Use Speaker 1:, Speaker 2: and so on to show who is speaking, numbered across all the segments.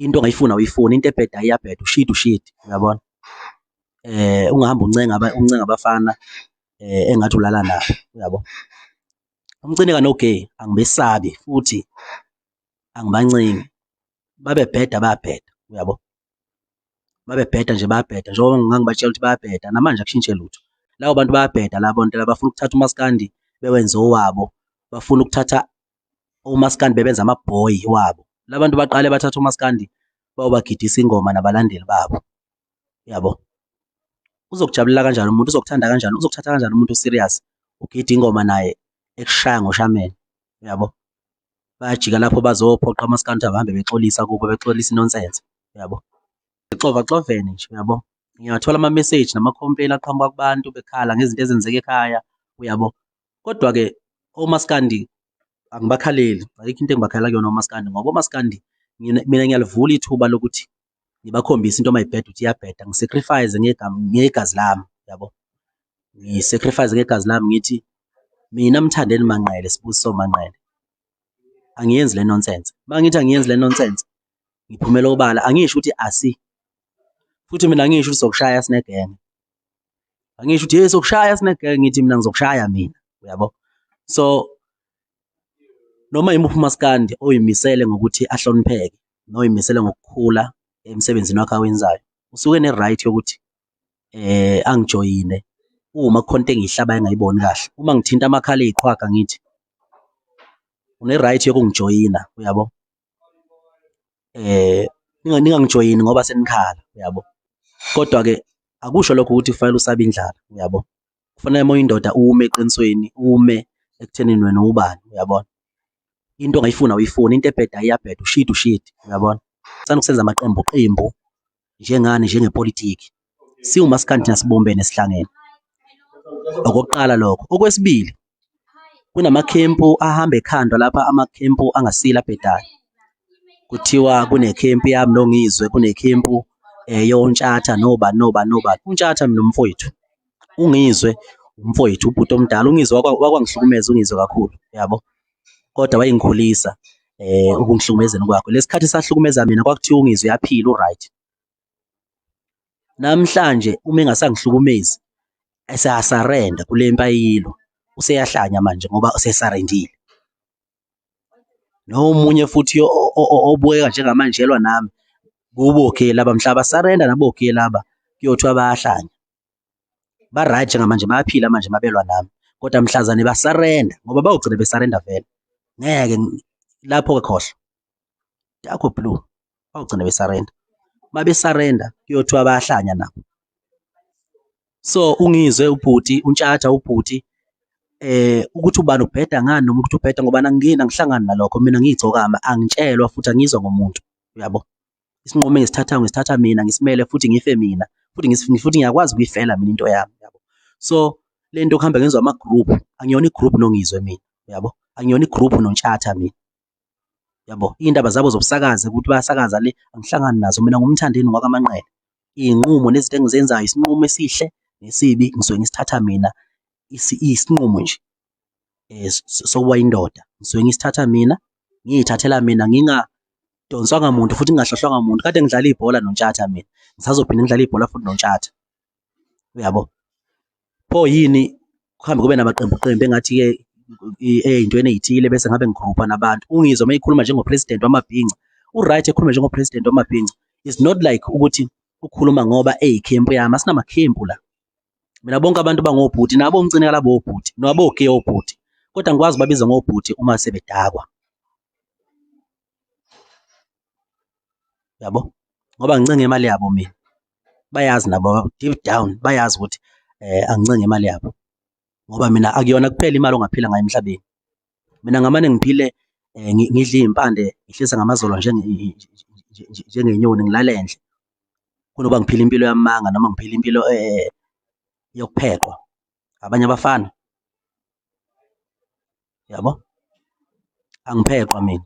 Speaker 1: into ongayifuna uyifuna into ebheda iyabheda ushit ushit uyabona eh ungahamba uncenga uncenga abafana eh engathi ulala nabo uyabo umcine kanogay angibesabi futhi angibancingi babebheda babheda uyabo babebheda nje babheda njengoba ngangibatshela ukuthi babheda namanje akushintshe lutho labo bantu bayabheda labo nto labafuna ukuthatha umaskandi bewenze owabo bafuna ukuthatha omaskandi bebenza amabhoyi wabo labantu baqale bathatha omaskandi bawubagidisa ingoma nabalandeli babo yabo uzokujabulela kanjani umuntu uzokuthanda kanjani uzokuthatha kanjani umuntu serious ugida ingoma naye ekushaya ngoshameni yabo bayajika lapho bazophoqa amaskandi abahambe bexolisa kubo bexolisa inonsense yabo xova xovene nje yabo ngiyathola ama message nama complain aqhamuka kubantu bekhala ngezinto ezenzeka ekhaya uyabo Kodwa-ke omaskandi angibakhaleli, ayikho into engibakhalela kuyona omaskandi ngoba omaskandi mina ngiyalivula ithuba lokuthi ngibakhombise into uma ibheda ukuthi iyabheda, ngisacrifice ngegazi lami, yabo. Ngisacrifice ngegazi lami ngithi mina Mthandeni Manqele, Sibusiso Manqele, angiyenzi le nonsense. Uma ngithi angiyenzi le nonsense, ngiphumela obala, angisho ukuthi asi, futhi mina angisho ukuthi sokushaya sinegenge. angisho ukuthi hey sokushaya snake ngithi mina ngizokushaya mina uyabo so noma yimuphi umaskandi oyimisele ngokuthi ahlonipheke noyimisele ngokukhula emsebenzini wakhe awenzayo usuke ne right yokuthi eh angijoyine uma kukhonto engihlaba engayiboni kahle uma ngithinta amakhala eziqhwaga ngithi une right yokungijoyina uyabo ningangijoyini ngoba senikhala uyabo, kodwa-ke akusho lokho ukuthi kufanele usabe indlala uyabo, kufanele uma uyindoda ume eqinisweni, ume ekuthenini wena uwubani uyabona. Into ongayifuni awuyifuni, into ebhedayo iyabheda, ushidi ushidi uyabona. Sithanda ukusenza amaqembu qembu njengani njengepolitiki siwumaskandi thina sibumbene sihlangene okokuqala lokho okwesibili kunamakhempu ahamba ekhandwa lapha amakhempu angasile abhedayo kuthiwa kunekhempu yami nongizwe kunekhempu eh, yontshatha noba noba noba untshatha mina umfowethu ungizwe umfowethu ubhuti omdala ungizwe wakwa- wakwangihlukumeza ungizwe kakhulu yabo kodwa wayengikhulisa eh ukungihlukumezeni kwakho lesikhathi sahlukumeza mina kwakuthiwa ungizwe yaphila uright namhlanje uma engasangihlukumezi eseyasarenda kule mpayilo useyahlanya manje ngoba usesarendile nomunye futhi obukeka njengamanjelwa nami kubo ke laba mhlaba sarenda nabo ke laba kuyothiwa bayahlanya ba right njengamanje bayaphila manje mabelwa nami kodwa mhlazane ba surrender ngoba bawugcina be surrender vele ngeke lapho ke khohlo yakho blue bawugcina be surrender mabe surrender kuyothiwa bayahlanya nabo so ungizwe ubhuti untshatha ubhuti eh ukuthi ubani ubheda ngani noma ukuthi ubheda ngoba angingeni angihlangani nalokho mina ngiyigcokama angitshelwa futhi angizwa ngomuntu uyabo isinqumo engisithathayo ngisithatha mina ngisimele futhi ngife mina futhi futhi ngiyakwazi ukuyifela mina into yami yabo so le nto kuhamba ngenziwa ama-group angiyona i-group nongizwe mina yabo angiyona i-group nontshatha mina yabo iy'ndaba zabo zobusakazi ukuthi bayasakaza le angihlangani nazo mina ngumthandeni ngwakamanqele iy'nqumo nezinto engizenzayo isinqumo esihle nesibi ngisuke ngisithatha mina isinqumo nje eh, sokuba indoda ngisuke ngisithatha mina ngiyithathela mina nginga donswanga muntu futhi ngingahlohlwanga muntu kade ngidlala ibhola nontshatha mina ngisazophinde ngidlala ibhola futhi nontshatha uyabo pho yini kuhambe kube namaqembu qembu engathi ke eyintweni ezithile bese ngabe ngigrupha nabantu ungizwa mayikhuluma njengopresident wamabhinca uright ekhuluma njengopresident wamabhinca is not like ukuthi ukhuluma ngoba eyikhempu yami asinamakhempu la mina bonke abantu bangobhuti nabo ngicine kalabo obhuti nabo ke obhuti kodwa ngikwazi babiza ngobhuti uma sebedakwa yabo ngoba ngincenge imali yabo mina bayazi nabo deep down bayazi ukuthi eh angincenge imali yabo ngoba mina akuyona kuphela imali ongaphila ngayo emhlabeni mina ngamane ngiphile eh, ngidla izimpande ngihlisa ngamazolo nje njengenyoni ngilale endle kunoba ngiphile impilo yamanga noma ngiphile impilo eh, yokuphekwa abanye abafana yabo angiphekwa mina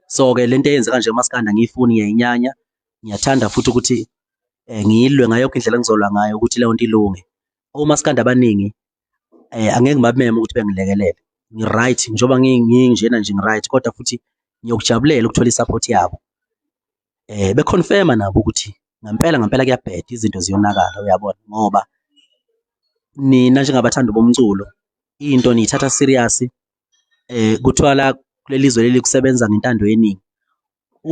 Speaker 1: so ke lento eyenzeka nje umaskanda ngiyifuni ngiyayinyanya ngiyathanda futhi ukuthi eh, ngiyilwe ngayo yonke indlela engizolwa ngayo ukuthi leyo nto ilunge omaskanda abaningi eh angeke ngibameme ukuthi bengilekelele ngi-right njengoba nginjena nje ngi-right kodwa futhi ngiyokujabulela ukuthola i-support yabo eh beconfirma nabo ukuthi ngempela ngempela kuyabheda izinto ziyonakala uyabona ngoba nina njengabathandi bomculo into niyithatha serious eh kuthiwa la kulelizwe leli kusebenza ngentando yeningi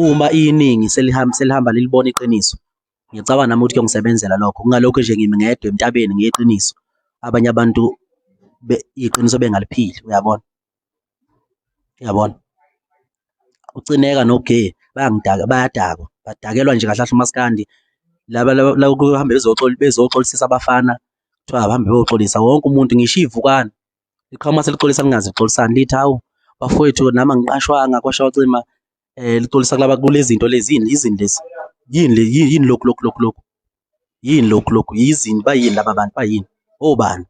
Speaker 1: Uma iningi selihamba selihamba lilibona iqiniso, ngicabanga nami ukuthi kuyongisebenzela lokho. Kungalokhu nje ngimi ngedwa entabeni ngeqiniso, abanye abantu be iqiniso bengaliphili, uyabona? Uyabona? UCineka noGee bayangidaka, bayadakwa, badakelwa nje kahle kahle umaskandi. Laba laba laba kuhambe bezoxola bezoxolisisa abafana, kuthiwa abahambe beyoxolisa wonke umuntu, ngisho iy'vukane liqhawe mase lixolisa lingazi lixolisani lithi hawu bafowethu nami angiqashwanga kwashawa cima eh lixolisa kulaba kulezinto lezini izini lezi yini le yini lokhu lokhu lokhu lokhu yini lokhu lokhu yizini bayini laba bantu bayini obani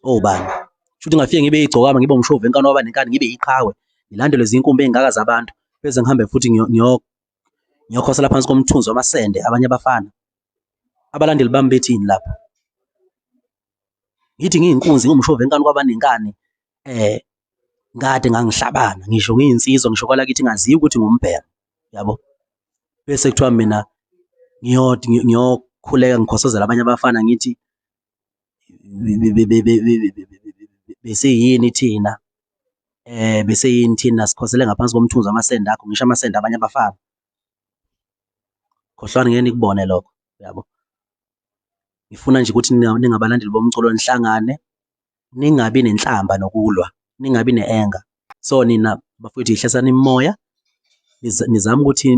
Speaker 1: obani shuthi ngafike ngibe igcokama ngibe umshovu enkani waba nenkani ngibe iqhawe ngilandelwe zinkumbi ezingaka zabantu bese ngihambe futhi ngiyokho ngiyokhosela phansi komthunzi wamasende abanye abafana abalandeli bami bethini lapho Ngithi ngiyinkunzi ngumshova enkani kwabanenkani eh kade ngangihlabana ngisho ngiyinsizwa ngisho kwala kithi ngaziyo ukuthi ngumbhero yabo bese kuthiwa mina ngiyoti ngiyokhuleka ngikhosozela abanye abafana ngithi bese yini thina eh bese yini thina sikhosele ngaphansi komthunzi amasende akho ngisho amasende abanye abafana khohlwani ngeke nikubone lokho yabo ngifuna nje ukuthi ningabalandeli bomculo nihlangane ningabi nenhlamba nokulwa ningabi ne-anger so nina bafowethu yihlasani imoya nizama ukuthi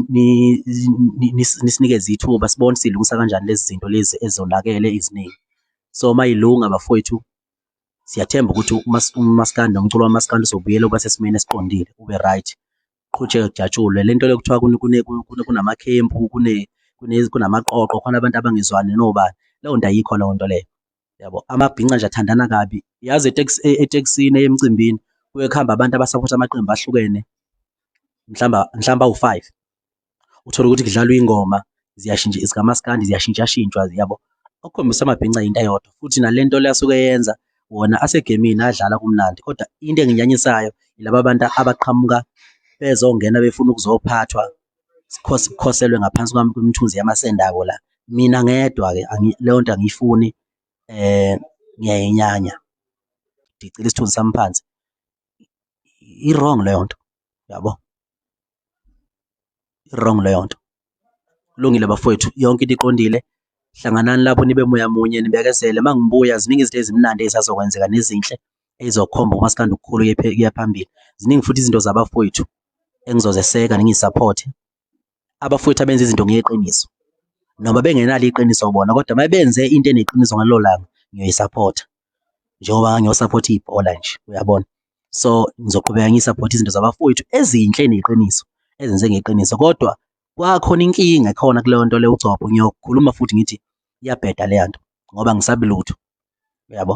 Speaker 1: nisinikeze ithuba sibone silungisa kanjani lezi zinto lezi ezonakele eziningi so uma yilunga bafowethu siyathemba ukuthi umaskandi nomculo wamaskandi uzobuyela uba sesimeni esiqondile ube right kuqhutshekwe kujatshulwe le nto le kuthiwa kunamakhempu kunamaqoqo khona abantu abangezwani nobani leyo nto ayikho leyo nto leyo yabo amabhinca nje athandana kabi yazi etekisini e, emcimbini kuye kuhamba abantu abasaphotha amaqembu ahlukene mhlawumbe mhlawumbe awu-five uthole ukuthi kudlalwa ingoma ziyashintsha zikamaskandi ziyashintshashintshwa yabo okukhombisa amabhinca yinto eyodwa futhi nale nto le asuke yenza wona asegemini adlala kumnandi kodwa into enginyanyisayo yilaba abantu abaqhamuka bezongena befuna ukuzophathwa sikhoselwe ngaphansi kwami kwemithunzi yamasendako la mina ngedwa ke leyo nto angiyifuni eh ngiyayinyanya ngicela isithunzi sami phansi i-wrong leyo nto yabo wrong leyo nto kulungile bafowethu yonke into iqondile hlanganani lapho nibe moya munye nibekezele uma ngibuya ziningi izinto ezimnandi ezisazokwenzeka nezinhle ezizokhomba umaskandi ukukhulu kuya phambili ziningi futhi izinto zabafowethu engizozeseka ningisaphothe abafowethu abenza izinto ngeqiniso noma bengenalo iqiniso bona kodwa uma benze into eneqiniso ngalelo langa ngiyoyisaphotha njengoba ngiyosaphotha ibhola nje uyabona so ngizoqhubeka ngisupport izinto zabafowethu ezinhle neqiniso ezenze ngeqiniso kodwa kwakhona inkinga khona kuleyo nto le ugcobho ngiyokhuluma futhi ngithi iyabheda leya nto ngoba ngisabi lutho uyabo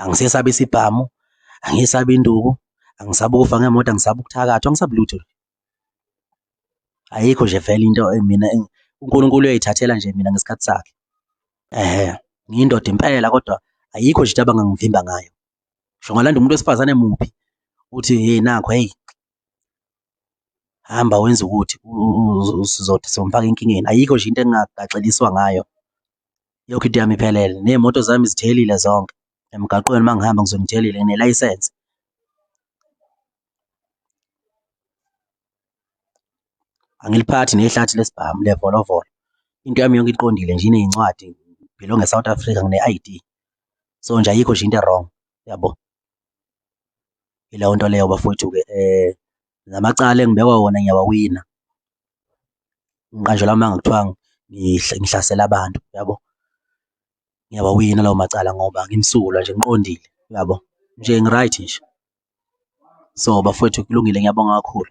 Speaker 1: angisesabi isibhamu angisabi induku angisabi ukufa ngemoto angisabi ukuthakathwa angisabi lutho ayikho nje vele into mina uNkulunkulu uyayithathela nje mina ngesikhathi sakhe ehe ngiyindoda impela kodwa ayikho nje into abangangivimba ngayo ngisho ngalanda umuntu wesifazane muphi uthi hey nakho hey hamba wenza ukuthi usizothi somfaka enkingeni ayikho nje into engagaxeliswa ngayo yonke into yami iphelele ney'moto zami zithelile zonke emgaqweni uma ngihamba ngizonithelile nelayisense angiliphathi nehlathi lesibhamu levolovolo into yami yonke iqondile nje ineyincwadi belong eSouth Africa ngine-ID so nje ayikho nje into wrong yabo ileyo nto leyo bafowethu ke eh namacala engibekwa wona ngiyawawina ngiqanjelwa amanga kuthiwa ngihlasela abantu yabo ngiyawawina lawo macala ngoba ngimsulwa nje ngiqondile uyabo nje ngi-right nje. So bafwethu kulungile ngiyabonga kakhulu